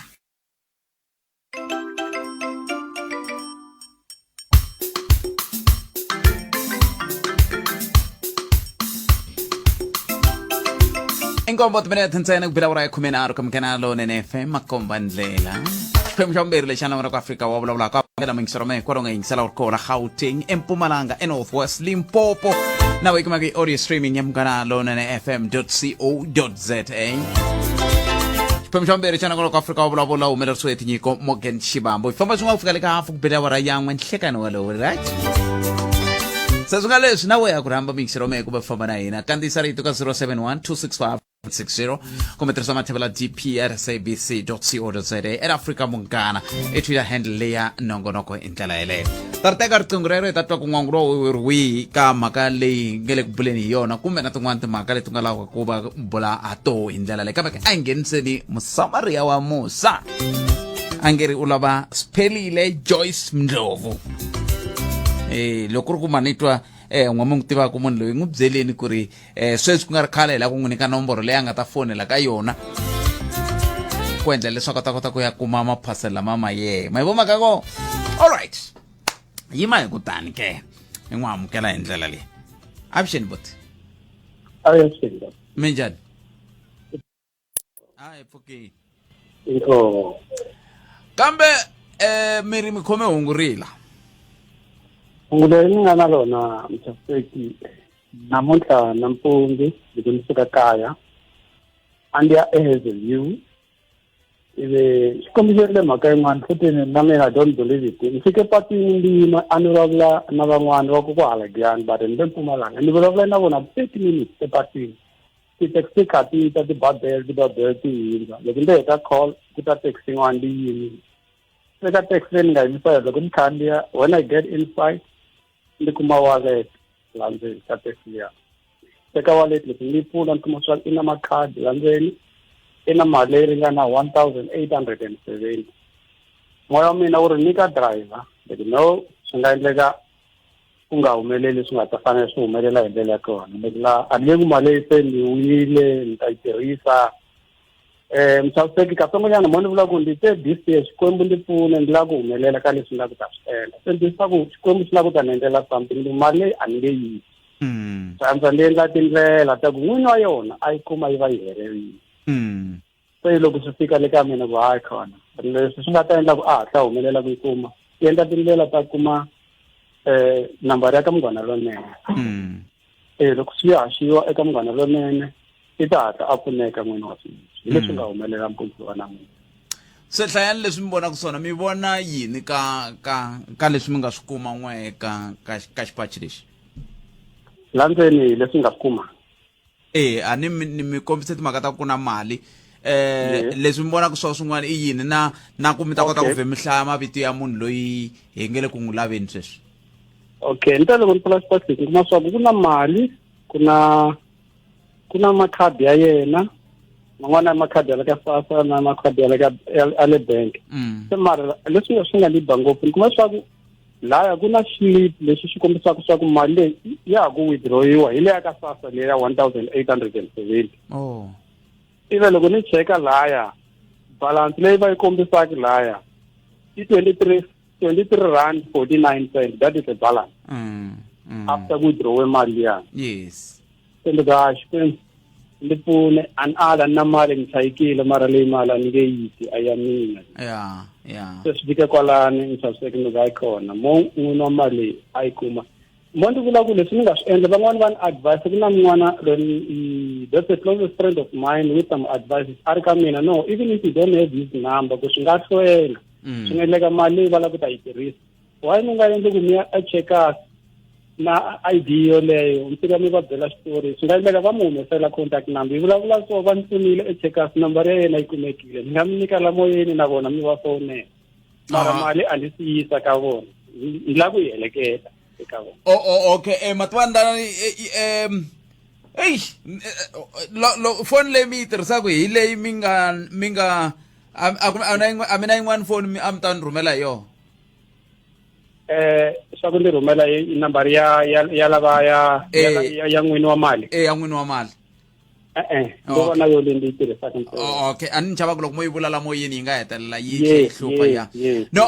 A: inkombo timinete ntsena ku bela wura ya khume nharhu ka munghana lowunene fm makomba ndlela xiphemu xa vumbirhi lexi anamera ku afrika wa vulavula ka vangela muyingiselo ma hikwalaho nga yingisela wu ri kona gauteng empumalanga enorth west limpopo na weyi kumaka i audio streaming ya munghana lowunene fm co za xiphemu xa vumbirhi xa nangolo ka afrika wa vulavula wu humelerisiwe hi tinyiko morgan xivambo xifamba xin'wana ku fika le ka hafu ku bele awara yan'we nhlekani walowo right se swi nga leswi na we ya ku rhamba mixero mehe kumbe famba na hina kandziyisa rito ka 071 265 60 kumbe tirhisa mathevela dprsabc co za at africa munghana i twitter handle leya nongonoko ndlela yeleyo ta ri teka riqingho rero hi ta twa kun'wangu lowu ri wihi ka mhaka leyi nge le ku buleni hi yona kumbe na tin'wana timhaka leti nga lavaka ku va bula ha toho hi ndlela leyi kambe a hi ngheniseni musamariya wa musa a nge ri u lava sphelile joyce mndlovu um loko ku ri ku manitwa um n'wami n'wi tivaka munhu loyi n'wi byeleni ku ri eh sweswi ku nga ri khale hi lava ku n'wi nyika nomboro leyi a nga ta fonela ka yona ku endla leswaku a ta kota ku ya kuma maphasela lama ma yena ma yi vomaka ko all right yima hi kutani ke i n'wi amukela hi ndlela leyi avuxeni boti minjhani kambe eh mi ri mi khome hungu rila hungu leri ni nga na rona mchafeki namuntlha nampundzu loko ni suka kaya a ndi ya ehazelview ivi swi kombiserile mhaka yin'wana futini na mina i don't believe it ni fike patwini ndi yima a ni vulavula na van'wana va ku ku halagiyani but ni le mpumalanga ni vulavula na vona thirty minutes epatwini ti-taxi kha ti ta tibabele tibabele ti hindza loko ndzi heta call ku ta taxi yin'wana ndi yimile eka taxi leyi ni nga yimisa yona loko ni khandziya when i get inside ni kuma wallet la ndzeni ka taxi liya eka wallet loko ni pfula ni kuma swa i na makhadi la ndzeni i na mali leyi ringana one thousand eight hundred and seventy moya wa mina wu ri nyika driver but no swi nga endleka ku nga humeleli leswi nga ta fanele swi humelela hi ndlela ya kona ni nga a ni ku mali leyi se ni winile ni ta yi tirhisa um mchaviseki katsongonyana mo ni vula ku ndi te this year xikwembu ndi pfune ndi lava ku humelela ka leswi ni lava ku ta swi endla se ndi swa ku xikwembu xi lava ku ta ni endlela something ndi mali leyi a ni nge yi hmm. sandza ndi endla tindlela ta ku n'wini wa yona a yi kuma yi va yi helerile hmm. se loko swi fika le ka mina ku hayi khona leswi swi nga ta endla ku a hatla humelela ku yi kuma yi endla tindlela ta kuma um nambara ya ka munghana lonene um loko swi haxiwa eka munghana lonene i ta hatla a pfuneka n'wini wa swilo hi leswi nga humelela mpundzu wa namuntlha se hlayani leswi mi vonaka swona mi vona yini ka ka ka leswi mi nga swi kuma n'we ka ka ka xipachi lexi la ndzeni leswi nga swi kuma e a ni ni mi kombise timhaka ta ku na mali eh leswi mi vonaka swo swin'wana i yini na na ku mi ta kota ku ve mi hlaya mavito ya munhu loyi hi nge le ku n'wi laveni sweswi okay ni ta loko ni pfula xipasi ni kuma swaku ku na mali ku na ku na makhadi ya yena man'wana ya makhadi ya le ka sasa na makhadi ya le ka ya le bank mm. se mara leswi swi nga ni ba ngopfu ni kuma swaku laya ku na slip lexi xi kombisaka swa ku mali leyi ya ha ku withdrawiwa hi leya ka sasa leyi ya one thousand eight hundred and seventy oh. ive loko ni cheka laya balance leyi va yi kombisaka laya i twenty three twenty three rand forty nine cent that is the balance mm, mm. after withdrawe mali liyani yes kumbe ka xikwembu ni pfune an ala na mali ni chayikile mara leyi mali a ni nge yiti a ya mina ya ya se swi fike kwalani ni chaviseke ni ka kona mo n'wini wa mali a yi kuma mo ndzi vula ku leswi ni nga swi endla van'wani va ni advice ku na mun'wana loyi that's a closest friend of mine with some advice a ri ka mina no even if you don't have his number ku swi nga hlwela swi nga endleka mali va lava ku ta yi tirhisa why mi nga endli ku mi ya echecas na id yoleyo mi fika mi va byela xitori swi nga endleka va mi humesela contact number yi vulavula so va ni pfunile echecas number ya yena yi kumekile ni nga mi nyika la moyeni na vona mi va fowunela mara ah. mali a ni si yisa ka vona ni la ku yi heleketa eka vona o oh, oh, okay um eh, matwandanani um eyi foni leyi mi yi tirhisaka hi leyi mi nga mi nga a mi na yin'wani foni a mi ta ni rhumela hi yona eh swa ku ndzi rhumela i number ya ya ya lava ya ya eh. ya n'wini wa mali eh ya n'wini wa mali e-e ndo vona yo leyi ndzi tirhisaka oh, okay a ni chava ku loko mo yi vula lamo yini yi nga hetelela yi tlhe yi hlupha ya no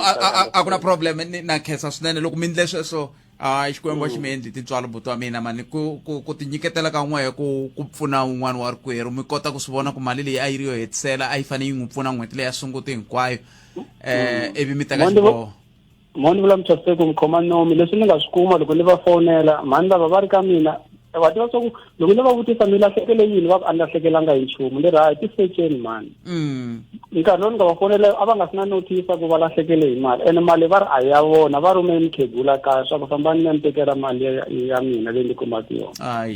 A: a ku na problem na khensa swinene loko mi ndle sweswo a xikwembu xi mi mm. endli tintswalo buti wa mina mani ku ku ku tinyiketela ka n'we ku ku pfuna un'wana wa rikwerhu mi kota ku swi vona ku mali leyi a yi ri yo hetisela a yi fanele yi n'wi pfuna n'hweti leyi ya sunguti hinkwayo um mm. ivi mi teka xiboho moni vula mthaseko mi khoma nomi leswi ni nga swi kuma loko ni va fonela mhani lava va ri ka mina wa tiva swa ku loko ni va vutisa mi lahlekele yini va ku a ni lahlekelanga hi nchumu ni ri hayi tiseceni mani mm. nkarhi lowu ni nga va fonela a va nga si na notisa ku va lahlekele hi mali ene mali va ri a ya vona va rhume mukhegula kaya swa ku fambani ni ya ni tekela mali ya mina leyi ni kumaka yona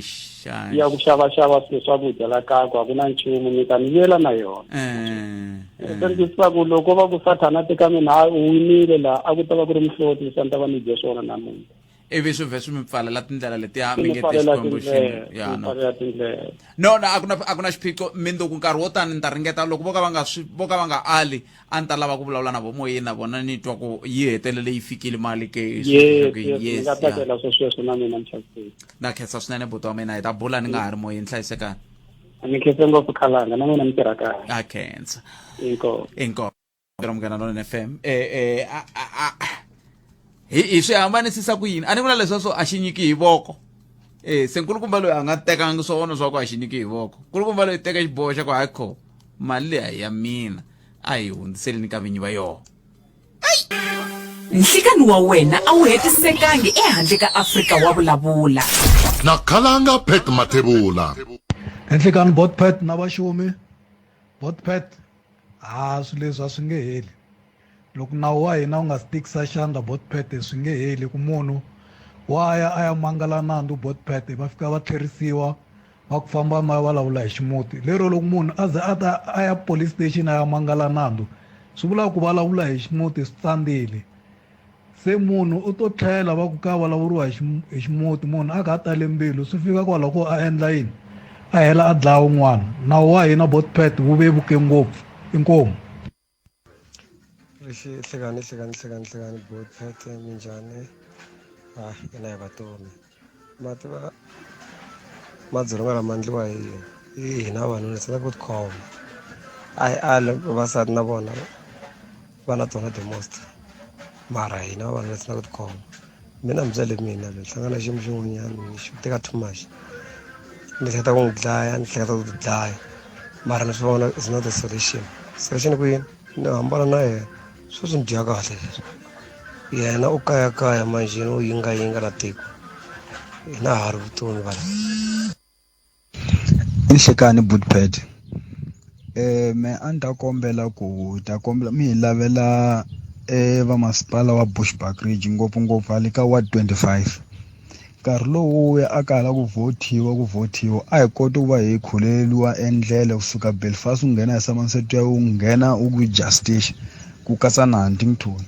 A: ya ku xavaxava swilo swakudya la kaya ku a ku na nchumu mi ta ni vuyela na yona eh, eh, eh. se ni twisisa ku loko va ku sathana teka mina u winile laha a ku ta va ku ri mihloti se ni ta va ni dye swona namuntlha ivi swi vhe swi mi pfalela tindlela letiya mi nge te xikwembu no no a ku na a ku na xiphiqo mindzuku nkarhi wo tani ni ta ringeta loko vo ka va nga swi vo ka va nga ali a ni ta lava ku vulavula na vo moyeni na vona ni twa ku yi hetelele yi fikile mali ke na khensa swinene buti wa mina hi ta bula ni nga ha ri moyeni hlayisekani ni khensa ngopfu khalanga na n'wina mi tirha kahle a khensa inkomu Ndzi munghana lonene fam eh, eh, a- a- a- hi hi swi hambanisisa ku yini a ni vula leswa swo a xi nyiki hi voko e se nkulukumba loyi a nga tekanga swo vona swa ku a xi nyiki hi voko nkulukumba loyi teka xiboho xa ku hayi kho mali leyi a hi ya mina a hi hundziseleni ka vinyi va yona nhlikani wa wena a wu hetisekangi ehandle ka afrika wa vulavula na khalanga pet mathebula Enhlikani Botpet na vaxumi Botpet A swilo leswi a swi nge heli. Loko nawu wa hina wu nga si tikisa xandla Botpete swi nge heli ku munhu wa ya a ya mangala nandzu Botpete va fika va tlherisiwa va ku famba ma ya vulavula hi ximuti lero loko munhu a ze a ta a ya police station a ya mangala nandzu swi vula ku vulavula hi ximuti swi tsandzile. Se munhu u to tlhela va ku ka vulavuriwa hi ximuti munhu a kha a tale mbilu swi fika kwalaho ko a endla yini a hela a dlaya un'wana nawu wa hina botpet wu vevuke ngopfu inkomu hlekani hlekani hlekani hlekani botpet minjhani a hina hi vatomi mati va madzolonga lama endliwa hi hi hina vanhu ni sala ku tikhoma a hi ali vavasati na vona va na tona the most mara hina vanhu ni sala ku tikhoma mina mi byele mina ni hlangana xiyimo xin'wanyana ni xi teka too much ni hleketa ku n'wi dlaya ni hleketa ku ti dlaya mara ni swi vona is not a solution solution ku yini ni hambana na yena Swi swi ni dya kahle leswi yena u kayakaya manjheni u yingayinga na tiko hina ha ri vutomi vanhu inhlekani bootpad eh me a ni ta kombela ku ta kombela mi hi lavela eh vamasipala wa bushbuck ridge ngopfungopfu hale ka ward 25 nkarhi lowu wu ya a ka ha la ku vhothiwa ku vhothiwa a hi koti ku va hi khuleleriwa endlela ku suka belfast u nghena hi somerset ya u nghena u ku justice ku katsa na huntington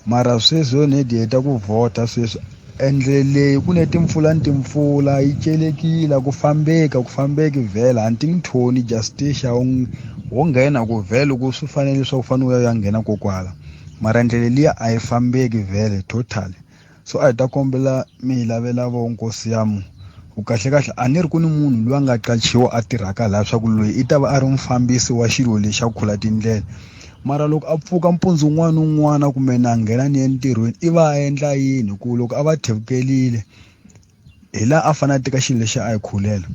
A: mara sweswi yo nedi heta ku vhota sweswi endlele leyi ku ne timpfula ni timpfula yi celekile ku fambeka ku fambeki vhela huntington justice wo nghena ku vhela ku swi fanele leswaku u fanele u ya ya nghena kokwala mara ndlela liya a yi fambeki vhele totally so a hi ta kombela mi hi lavela vo nkosi yamu ku kahlekahle a ni ri ku ni munhu loyi a nga qachiwa a tirhaka laha swa ku loyi i ta va a ri mufambisi wa xilo lexi a khula tindlela mara loko a pfuka mpundzu un'wana un'wana kumbe na nghena ni entirhweni i va a endla yini ku loko a va thevkelile hi la a fanele a teka xilo lexi a yi khulela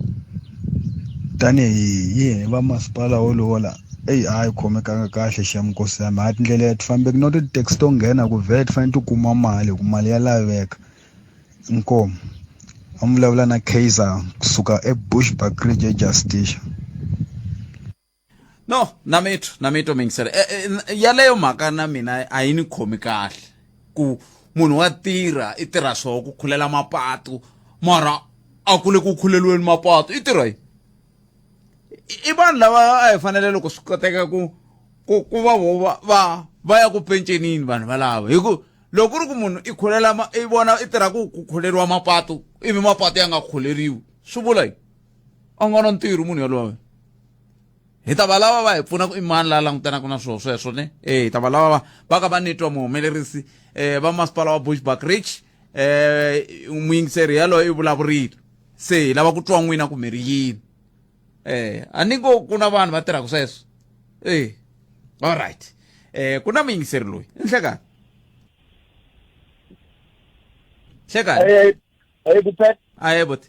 A: tanihi yini va masipala wolowo la eyi a yi khomekanga kahle xa minkosi yami ha tindlela ya ti fambeki no ti tax to nghena ku vhele ti fanele ti kuma mali hi ku mali ya laveka inkomo a mi vulavula na kaizer kusuka ebushbuck ridge ejusticia no na mitwa na mitwa mingisela e, e, n- yaleyo mhaka na mina a yi ni khomi kahle ku munhu wa tirha i tirha swoho ku khulela mapatu mara a ku le ku khuleliweni mapatu i tirha yi i vanhu lava a hi fanele loko swi koteka ku ku ku va vo va va va ya ku pencenini vanhu valava hi ku loko ku ri ku munhu i khulela ma- i vona i tirha ku ku khuleriwa mapatu ivi mapatu ya nga khuleriwi swi vula yini a nga na ntirho munhu yoloye hi ta va lava va hi pfuna ku i mani la langutanaka na swilo sweswo ne e hi ta va lava va ka va nitwa muhumelerisi um va masipala wa bushback rich um muyingiseri yaloyo i vulavurile se hi lava ku twa n'wina ku mi ri yini um a ni ngo ku na vanhu va tirhaka sweswo e all right um ku na muyingiseri loyi i nhlekani nhlekani aye bote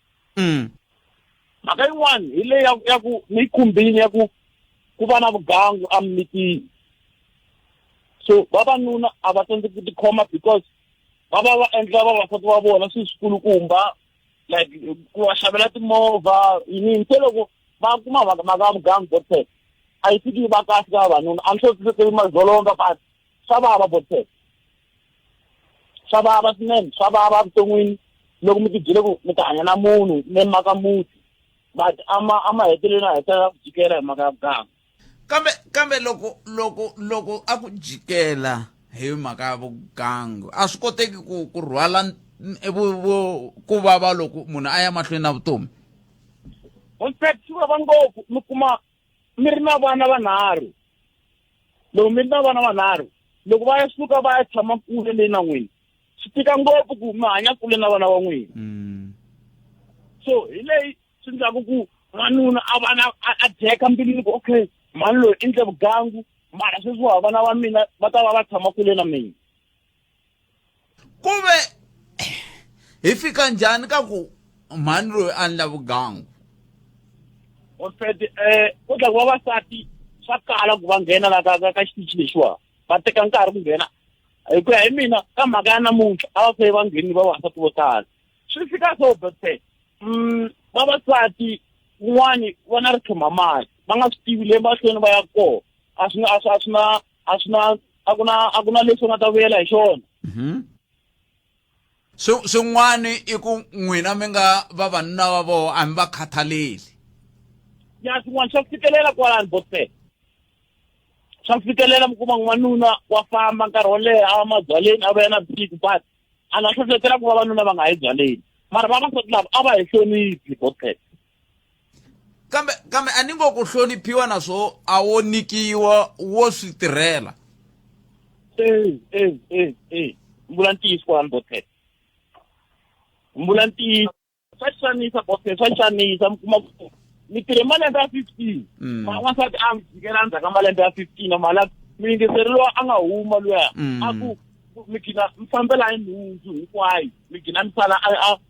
A: mm. mhaka yin'wana hi leyi ya ya ku ni khumbini ya ku ku va na vugangu emimitini so vavanuna a va tsandzeki ku tikhoma because va va va endla vavasati va vona swi swikulukumba like ku va xavela timovha yini se loko va kuma mhaka mhaka ya vugangu botsek a yi fiki yi va kahle ka vavanuna a ni swo swi mazolonga but swa vava botsek swa vava swinene swa vava vuton'wini loko mi tibyele ku mi ta hanya na munhu mi maka muti but ama ama heteleleni a hetelela ku jikela hi maka ya vuganga kambe kambe loko loko loko a ku jikela hi mhaka ya vugangu a swi koteki ku ku rhwala ku vava loko munhu a ya mahlweni na vutomi in fact swi vava ngopfu mi kuma mi ri na vana vanharhu loko mi ri na vana vanharhu loko va ya suka va ya tshama kule leyi na n'wina swi tika ngopfu ku mi hanya kule na vana va n'wina mm. so hi leyi swi ndlaku ku n'wanuna a vana a dyeka mbilwini ku okay mhani loyi i ndle vugangu mara sweswi wa vana va mina va ta va va tshama kule na mina ku ve hi fika njhani ka ku mhani loyi a ndla vugangu hospede um eh, ku dlaku vavasati swa kala ku va nghena la ka ka xitichi lexiwa va teka nkarhi ku nghena hi ku ya hi mina ka mhaka ya namuntlha a va feye va nghenini vavasati vo tala swi fika so bese um vavasati kun'wani va na ri tshoma mali va nga swi tivi le mahlweni va ya kona a swi a swi a swi na a swi na a ku na a ku na leswi u nga ta vuyela hi xona mhm. swin'wana i ku n'wina mi nga vavanuna va voho a mi va khathaleli ya swin'wana swa ku fikelela kwalani bose swa ku fikelela mi kuma n'wanuna wa famba nkarhi wo leha a va mabyaleni a va ya na big but a nga hlohletela ku vavanuna va nga yi byaleni mara vavasati lava a va hi hloniphi bose kambe kambe a ni ngo ku hloniphiwa naswo a wo nikiwa wo swi tirhela e e e e mbula ntiyiso kwalani botete mbula ntiyiso swa xanisa botete swa xanisa mi kuma ku mi tirhe malembe ya fifteen mm. wansati a mi jikela ndzhaku ka malembe ya fifteen mala muyingiseri lowa a nga huma luya mm. a ku mi gina mi fambela hi nhundzu hinkwayo mi gina mi sala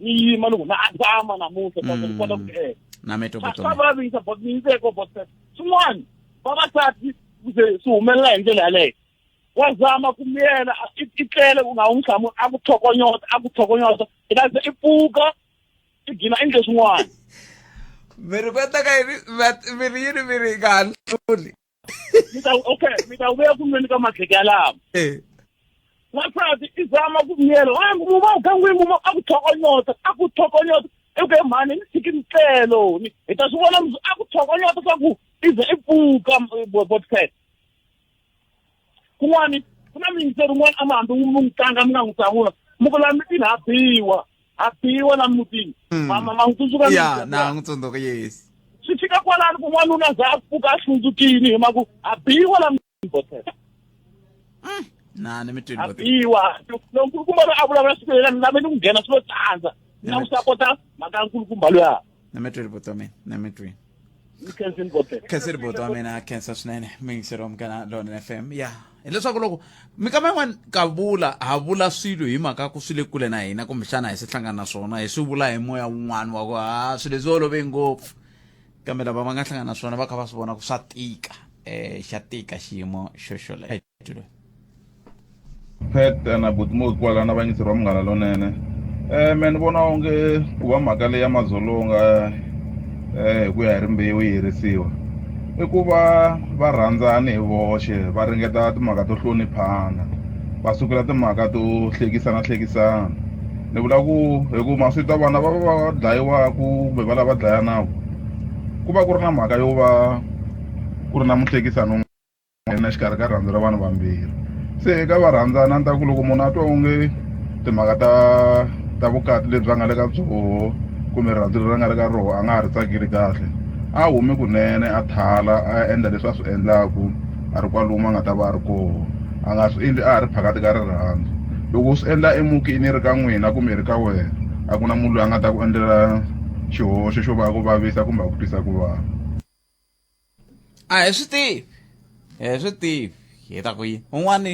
A: ni yima loko na azama namuntlha ta ni kota ku mm. eka na me to botsa va vi sa botsa ni ko botsa swin'wana vavasati kuze swi humelela hi ndlela yaleyo wa zama ku miyela i tlele u nga wu nhlamu a ku tlhokonyota a ku tlhokonyota i ta ze i pfuka i gina i ndle swin'wana mi ri kota ka yini mi ri yini mi ri nga ha hluli mi ta okay mi ta vuya ku nweni ka madleke yalawo eh. n'wansati i zama ku miyela a mu va gangwini mu a ku tlhokonyota a ku tlhokonyota eku he mhani ni tshiki ntlelo hi ta swi vona a ku tlhokonyota swa ku i ze i pfuka eh, botsela kun'wani ku na miyingiseri un'wana a mi hambi mi n'wi tlanga mi nga n'wi hlamula mi ku la mitini ha biwa ha biwa la mutini hmm. mama ma n'wi tsundzuka ya na n'wi tsundzuka yes swi fika kwalani ku n'wanuna za a pfuka a hlundzukini hi maku ha biwa la mutini botela hmm. na ni mitini ha biwa lonkulukumba loyi a vulavula siku leri na me ni n'wi nghena swi lo tsandza na n'wi sapota mhaka nkulukumba loyi Nemetri Ributome, Nemetri. Kensin Bote. Kensin Ributome na Kensa swinene miyingiselo mukana Don FM ya hileswaku loko mikama yin'wana ka vula ha vula swilo hi mhaka ku swi le kule na hina kumbexana hi swi hlangana na swona hi swi vula hi moya wun'wana wa ku ha swilo leswi olove ngopfu kambe lava va nga hlangana na swona va kha va swi vona ku swa tika um xa tika xiyimo xo xolexo pet na butimo kwala na vanyisi ra munghana lonene um me ni vona onge ku va mhaka leyi ya madzolonga um hi ku ya hi rimbewu yi herisiwa i ku va va rhandzani hi voxe va ringeta timhaka to hloniphana va sukela timhaka to hlekisana hlekisana ni vula ku hi ku maswito ya vana va va va dlayiwaka kumbe va lava dlayanaka ku va ku ri na mhaka yo va ku ri na muhlekisani nghena exikarhi ka rirhandzu ra vanhu vambirhi se eka varhandzani a ni ta ku loko munhu a twa onge timhaka ta ta vukati lebyi a nga le ka byoho kumbe rirhandzu leri a nga le ka roho a nga ha ri tsakeli kahle a humi kunene a thala a ya endla leswi a swi endlaku a ri kwalomu a nga ta va a ri koho a nga swi endli a ha ri phakati ka rirhandzu loko u swi endla emutini yi ri ka n'wina kumbe yi ri ka wena a ku na munhu loyi a nga ta ku endlela xihoxo xo va a ku vavisa kumbe a ku twisa ku vava. a hi swi tivi hi swi tivi hi ta ku yini un'wani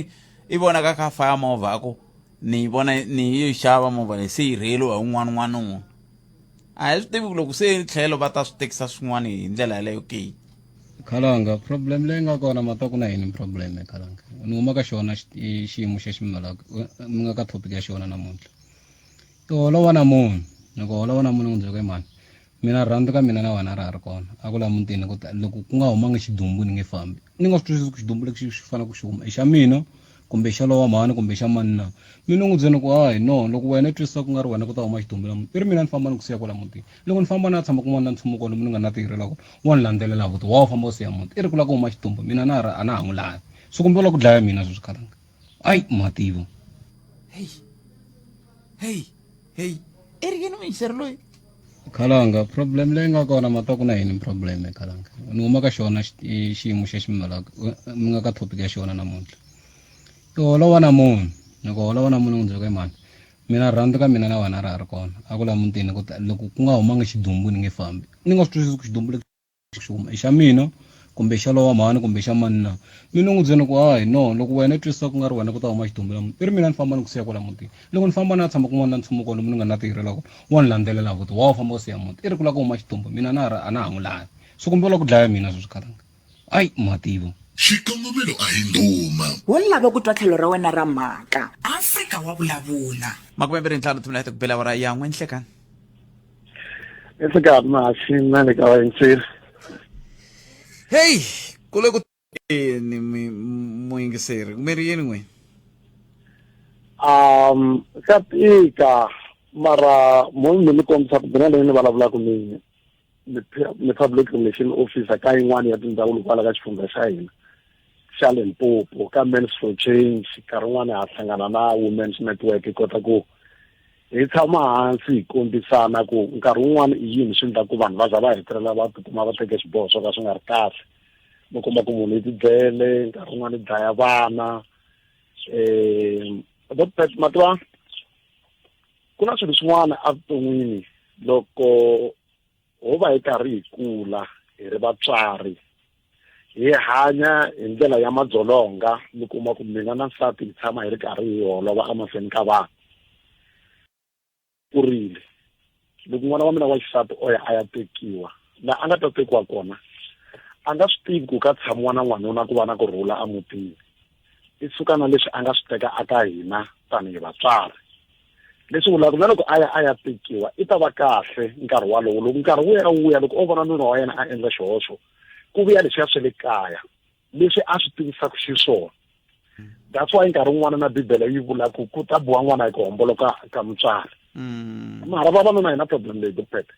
A: i vonaka kha faya movha a ku ni yi vona ni yi xava movha leyi se yi rheliwa hi un'wana un'wana un'wana a hi swi tivi ku loko se tlhelo va ta swi tekisa swin'wana hi ndlela yaleyo ke khalanga problem leyi nga kona ma ta ku na yini problem khalanga ni huma ka xona xiyimo xa ximala mi nga ka topic ya xona namuntlha i holova na munhu loko holova na munhu n'wi byeka mani mina rhandi ka mina na wena ra ha ri kona a ku la mutini ku ta loko ku nga humanga xidumbu ni nge fambi ni nga swi twisisi ku xidumbu lexi xi fanele ku xi huma i xa mina kumbe i xa lowa mhani kumbe i xa mani na mi ni n'wi byeni ku hayi no loko wena i twisisa ku nga ri wena ku ta huma xidumbu la muti i ri mina ni famba ni ku siya kwala mutini loko ni famba ni ya tshama kun'wana na nchumu kwalo mi ni nga na tihirela kona wa ni landzelela vuti wa wu famba u siya muti i ri ku la ku huma xidumbu mina na ha ri a na ha n'wi lavi so kumbe u la ku dlaya mina sweswi khalanga Ay, mativo. Hey. Hey. Hey. Erge no me serlo. Kalanga, problem lenga kona matoku na yini problem kalanga. Numa ka xona xiyimo xa ximalaka mi nga ka topic ya xona namuntlha. Ku holova na munhu, loko holova na munhu ndzi ku mani. Mina rhandza ka mina na wena ra ha ri kona. A ku la mutini ku loko ku nga humanga xidumbu ni nge fambi. Ni nga swi twisisi ku xidumbu xuma i xa mina kumbe xa lowa mhani kumbe xa mani na mi ni n'wi byela ku hayi no loko wena i twisisa ku nga ri wena ku ta huma xidumbela muti i ri mina ni famba ni ku siya kwala mutini loko ni famba na ya tshama kun'wana na nchumu kwalomu ni nga na tirhela kona wa ni landzelela futi wa wu famba u siya muti i ri ku lava ku huma xidumbu mina na a na ha n'wi lavi so kumbe u lava ku dlaya mina sweswi karanga ayi mativa Xikongomelo a hi ndhuma. Wo lava ku twa tlhelo ra wena ra mhaka. Afrika wa vulavula. Makume mbirhi ntlhanu timinete ku bela awara ya n'we nhlekan. It's a god machine, man, the guy in Sir. Hey, kule ku ni muingiseri kumeri yini n'wini um ka tika mara munhu mi ni kombisa ku bina leyi ni vulavulaka ni ni public relation officer ka yin'wana ya tindhawu loko ala ka xifundza xa hina xa limpopo ka mans for change nkarhi wun'wana ha hlangana na women's network hi kota ku hi tshama hansi hi kombisana ku nkarhi wun'wana i yini swi endla ku vanhu va za va hetelela va tikuma va teke xiboho swo ka swi nga ri kahle va komba ku munhu i tibyele nkarhi wun'wana i dlaya vana um mativa ku na swilo swin'wana evuton'wini loko ho va hi karhi hi kula hi ri vatswari hi hanya hi ndlela ya madzolonga mi kuma ku mina na nsati hi tshama hi ri karhi hi holova emahlweni ka vanhu ku rile loko n'wana wa mina wa xisati o ya a ya tekiwa laha a nga ta tekiwa kona a nga swi tivi ku ka tshamiwa na n'wanuna ku va na ku rhula emutini i suka na leswi a nga swi teka aka hina tanihi vatswari leswi vulaka na loko a ya a ya tekiwa i ta va kahle nkarhi walowo loko nkarhi wu ya wu ya loko o vona nuna wa yena a endla xihoxo ku vuya leswiya swa le kaya leswi a swi tivisaka xiswona that's why nkarhi wun'wana na bibele yi vula ku ku ta buwa n'wana hi ku homboloka ka mutswari mm. mara vavanuna hi na problem leyi dopete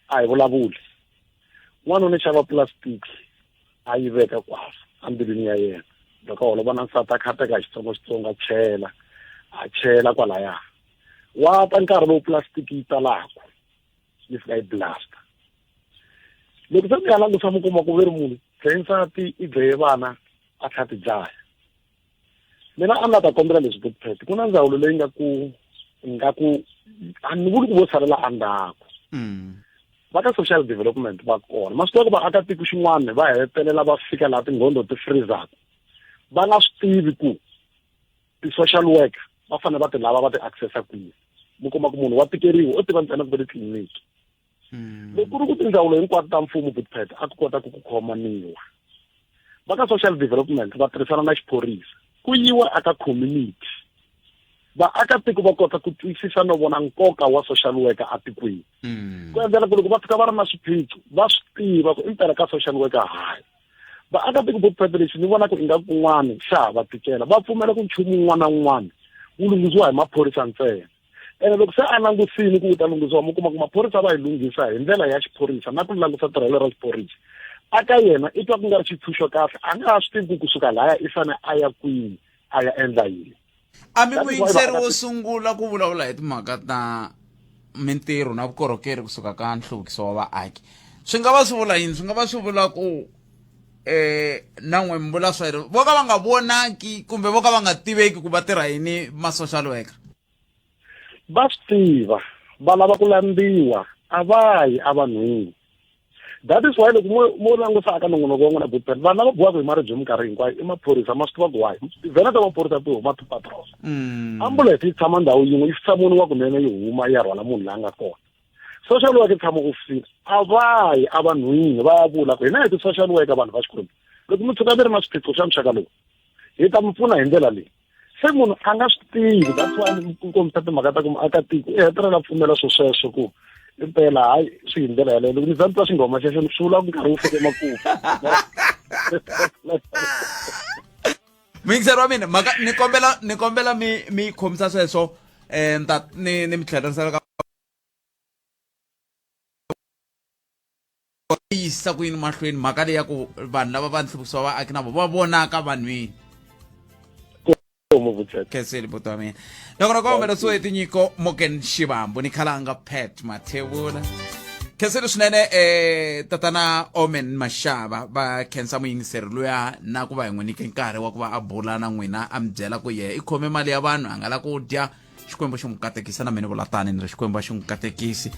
A: a hi vulavuli n'wanuna xava plastics a yi veka kwasa embilwini ya yena loko holo vona nsati a khateka hi xitsongoxitsongo a chela a chela kwalaya wa ta nkarhi lowu pulasitiki yi talaku yi fika yi blasta loko se mi ya langusa mi kuma ku ve ri munhu dlaye nsati i dlaye vana a tlha ti dlaya mina a ni la ta kombela leswi good pet ku na ndzawulo leyi nga ku nga ku a ni vuli ku vo salela endzhaku mm. va ka social development va kona masiku ya ku vaakatiko xin'wana va hetelela va fika laha tinghondo ti freezaka va nga swi tivi ku ti-social work va fanele va ti lava va ti accessa kwihi mi kuma ku munhu wa tikeriwa o tiva ntsena ku ve titliliniki hmm. loko ku ri ku tindzawulo hinkwato ta mfumo bidpet a ku kota ku ku khomaniwa va ka social development va tirhisana na xiphorisa ku yiwa aka community vaakatiko va kota ku twisisa no vona nkoka wa social worker atikweni hmm. ku endlela ku loko va fika va ri na swiphiqo va swi tiva ku impela ka social worker hayi vaakatiko vo preparation ni vona ku inga kun'wana xa ha va tikela va pfumela ku nchumu un'wana na un'wana wu lunghisiwa hi maphorisa ntsena ene loko se a langusini ku u ta lunghisiwa mi kuma ku maphorisa va hi lunghisa hi ndlela ya xiphorisa na ku langusa tirhelo ra xiphorisa a ka yena i twa ku nga ri xitshunxo kahle a nga ha swi tivi ku kusuka laya i fane a ya kwini a ya endla yini a mi muyingiseri wo sungula ku vulavula hi timhaka ta mintirho na vukorhokeri kusuka ka nhluvukiso wa vaaki swi nga va swi vula yini swi nga va swi vula ku eh na n'wi mbula swa yena vo ka va nga vonaki kumbe vo ka va nga tiveki ku va tirha yini ma-social worker va swi tiva va lava ku landziwa a va yi evanhwini that is why loko mo mo langusa aka nongonoko wa n'wina butpet vanhu lava biwaka hi maribye minkarhi hinkwayo i maphorisa ma swi tiva ku wahi vhena ta maphorisa ti huma ti-patrol ambulance yi tshama ndhawu yin'we yi hlamoniwa kunene yi huma yi ya rhwala munhu la nga kona social worker tshama ku fika a va yi evanhwini va ya vula ku hina hi ti-social worker vanhu va xikwembu loko mi tshuka mi ri na swiphiqo swa muxaka lowu hi ta mi pfuna hi ndlela leyi se munhu a nga swi tivi that's why ni ku kombisa timhaka ta ku muakatiko i hetelela pfumela swo sweswo ku impela hayi swi hi ndlela yaleyo loko ni za ni twa xinghoma xexo ni swi vula ku nkarhi wu fike makumu muyingiseri wa mina mhaka ni kombela ni kombela mi mi khomisa sweswo um ni ta ni ni mi tlherisela ka yisisa ku yini mahlweni mhaka leyi ya ku vanhu lava va nhluvukiso vaaki na vo va vonaka vanhwini khenseli buti wa mina nokona kombela tsweti nyiko moken xivambu ni khalanga pat mathevula khenseni swinene eh tatana omen maxava va khensa muyingiseri luya na ku va hi n'wi nyike nkarhi wa ku va a bula na n'wina a mi byela ku yehe i khome mali ya vanhu a nga la ku dya xikwembu xi n'wi katekisa na mina vulatani ni ri xikwembu a xi n'wi katekisi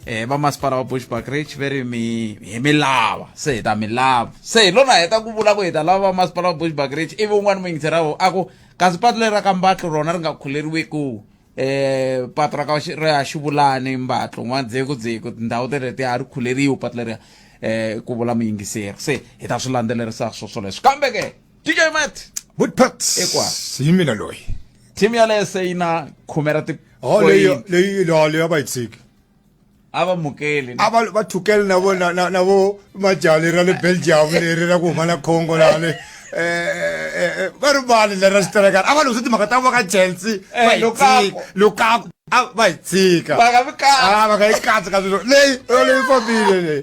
A: eh va masipala wa bushback rich ve ri mi hi mi lava se hi ta mi lava se hi lona heta ku vula ku hi ta lava va masipala wa bushback rich ivi un'wana muyingiseri a ku kasi patu leri ra ka mbatlu rona ri nga khuleriwiku eh patu ra ka xi- ra xivulani mbatlu n'wandzeko dzeko tindhawu teleti a ri khuleriwi patu leriya eh ku vula muyingiseri se hi ta swi landzelerisa swo swoleswo kambe ke dj mat woodpats Hikwako. hi mina loyi team yaleyo se yi na khume ra ti Oh, leyi leyi leyi leyi a va yi tshiki. a va mukeli a va va thukele na vo na na vo majali ra le belgium leri ra ku huma na congo laha le eh, eh, eh, va ri vani leri ra xiterekana a va lunghi swi timhaka ta vo ka chelsea va hi tshika lukaku a va hi tshika va nga yi katsi ka swilo leyi leyi fambile leyi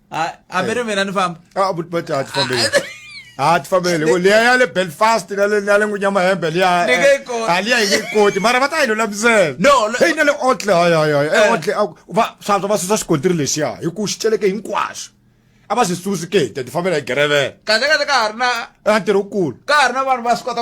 A: a a mere mina ni famba a but but a ti fambele a ti fambele ko liya ya le belfast na le na le ngunya mahembe liya Ni nge yi koti. a liya yi nge yi koti mara va ta yi lulamisela No, le- hey na le otle hayi hayi hayi Eh. e otle a- va swantswa va susa xikontiri lexiya hi ku xi celeke hinkwaswo a va swi susi ke te ti fambela hi gerevela kahle kahle ka ha ri na a ntirho wukulu ka ha ri na vanhu va swi kota